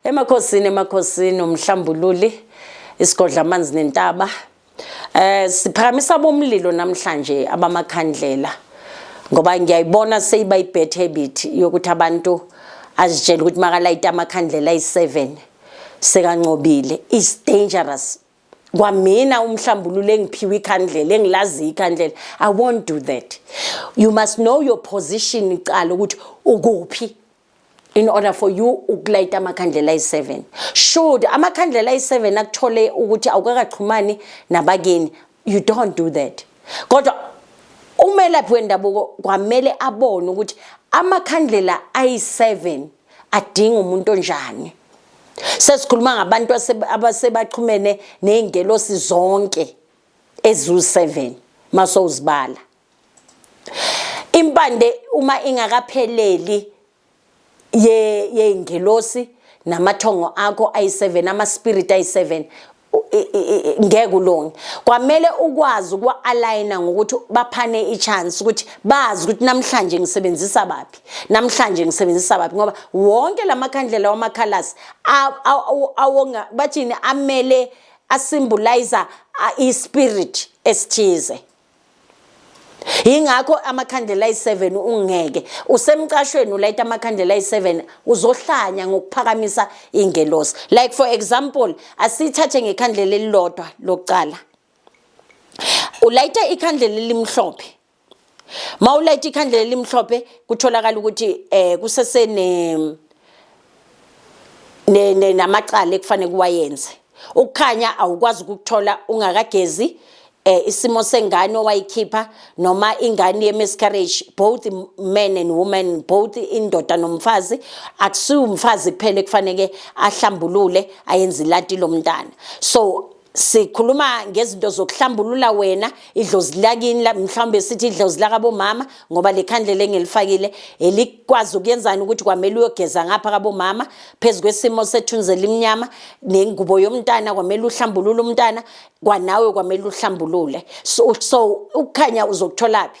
Emakhosini emakhosini umhlambululi isigodla amanzi nentaba eh siphakamisa bomlilo namhlanje abamakhandlela ngoba ngiyayibona seyiba ibad habit yokuthi abantu azitshela ukuthi makalayita amakhandlela ayi-7 sekancobile is dangerous kwamina umhlambululo engiphiwe ikhandlela engilazi ikhandlela i won't do that you must know your position icala ukuthi ukuphi in order for you ukulayita amakhandlela ayi-7 should amakhandlela ayi-7 akuthole ukuthi awukakaxhumani nabakini you don't do that kodwa umelaphi wendabuko kwamele abone ukuthi amakhandlela ayi-7 adinga umuntu onjani sesikhuluma ngabantu abasebaxhumene ney'ngelosi zonke eziwu-7 masowuzibala Impande uma ingakapheleli ye yeingelosi namathongo akho ayi7 ama spirit ayi7 ngeke ulunge kwamele ukwazi ukwa aligna ngokuthi baphane i chance ukuthi bazi ukuthi namhlanje ngisebenzisa baphi namhlanje ngisebenzisa baphi ngoba wonke lamakhandlela wamakhalasi awonga bathini amele asymbolize i spirit esithize yingakho amakhandlela ayi-7 ungeke usemcashweni ulayita amakhandlela ayi-7 uzohlanya ngokuphakamisa ingelosi like for example asithathe ngekhandlela elilodwa lokucala ulayita ikhandlela elimhlophe mawulayita ikhandlela elimhlophe kutholakala ukuthi eh kusesene namacala ekufanele kuwayenze ukukhanya awukwazi ukukuthola ungakagezi eh isimo sengane owayikhipha noma ingane ye miscarriage both men and women both indoda nomfazi akusiwumfazi kuphela ekufanele ahlambulule ayenze ilati lomntana so sikhuluma ngezinto zokuhlambulula wena idlozi lakini mhlawumbe sithi idlozi lakabomama ngoba le khandlela engilifakile elikwazi ukuyenzani ukuthi kwamele uyogeza ngapha kabomama phezu kwesimo sethunzi elimnyama nengubo yomntana kwamele uhlambulule umntana kwanawe kwamele uhlambulule so, so ukukhanya uzokutholaphi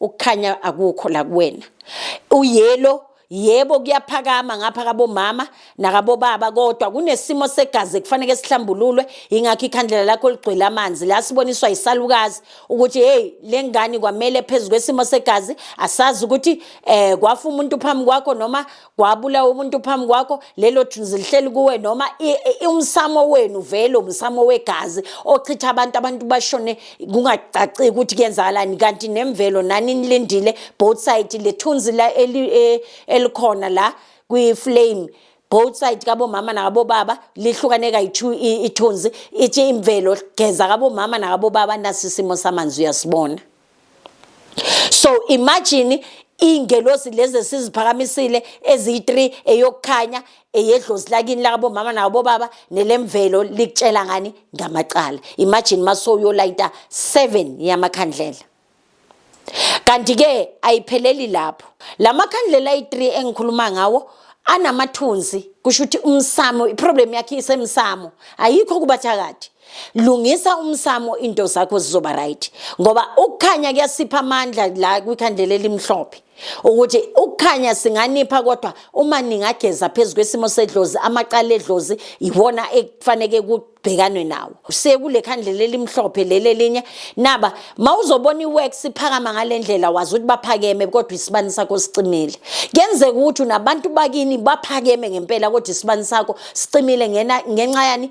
ukukhanya akukho la kuwena uyelo yebo kuyaphakama ngapha kabomama nakabobaba kodwa kunesimo segazi ekufanele sihlambululwe ingakho ikhandlela lakho ligcwele amanzi la siboniswa yisalukazi ukuthi hey lengane kwamele phezulu kwesimo segazi asazi ukuthi eh kwafa umuntu phambi kwakho noma kwabulawa umuntu phambi kwakho lelo juzi lihleli kuwe noma umsamo wenu vele umsamo wegazi ochitha abantu abantu bashone kungacaciki ukuthi kuyenzakalani kanti nemvelo nani nilindile both side lethunzi la e, elikhona la kwi-flame both side kabomama nakabobaba lihlukane kayi-two ithunzi ithi imvelo geza kabomama nakabobaba nasisimo samanzi uyasibona so imagine iy'ngelosi lezi esiziphakamisile eziyi-three eyokukhanya eyedlozi lakini lakabomama nakabobaba nelemvelo likutshela ngani ngamacala imagine uma sowuyolayita seven yamakhandlela kanti-ke ayipheleli lapho la makhandlela ayi-three engikhuluma ngawo anamathunzi kusho ukuthi umsamo iproblem yakhe isemsamo ayikho kubathakathi lungisa umsamo into zakho zizoba right ngoba ukukhanya kuyasipha amandla la kwikhandlela elimhlophe ukuthi ukukhanya singanipha kodwa uma ningageza phezu kwesimo sedlozi amaqala edlozi iwona ekufaneke kubhekanwe nawo sekule khandlela elimhlophe leli elinye naba mawuzobona iworks iphakama ngalendlela wazi ukuthi baphakeme kodwa isibani sakho sicimile kenzeka ukuthi nabantu bakini baphakeme ngempela kodwa isibani sakho sicimile ngena ngenxa yani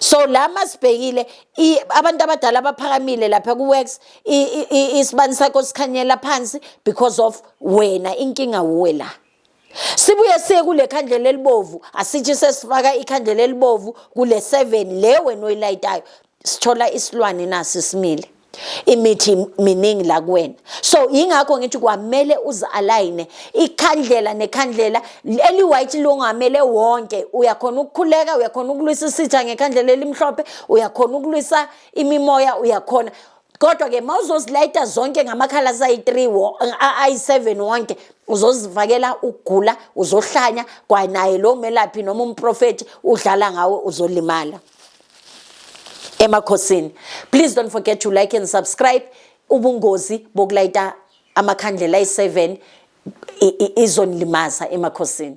so la masibhekile abantu abadala abaphakamile lapha ku-works isibani sakho sikhanyela phansi because of wena inkinga wuwe la sibuye siye kule khandlela elibovu asithi sesifaka ikhandlela elibovu kule seven le wena oyilayitayo sithola isilwane nasi simile imithi miningi la kuwena so yingakho ngithi kwamele uzi-alayine ikhandlela nekhandlela eli-white longamele wonke uyakhona ukukhuleka uyakhona ukulwisa isitha ngekhandlela elimhlophe uyakhona ukulwisa imimoya uyakhona kodwa-ke ma uzozilayita zonke ngamakhala asayi-three ayi-seven wonke uzozivakela ukugula uzohlanya kwanaye lowo melaphi noma umprofethi udlala ngawe uzolimala emakhosini please don't forget to like and subscribe ubungozi bokulayita amakhandlela ayi-7 izonilimaza emakhosini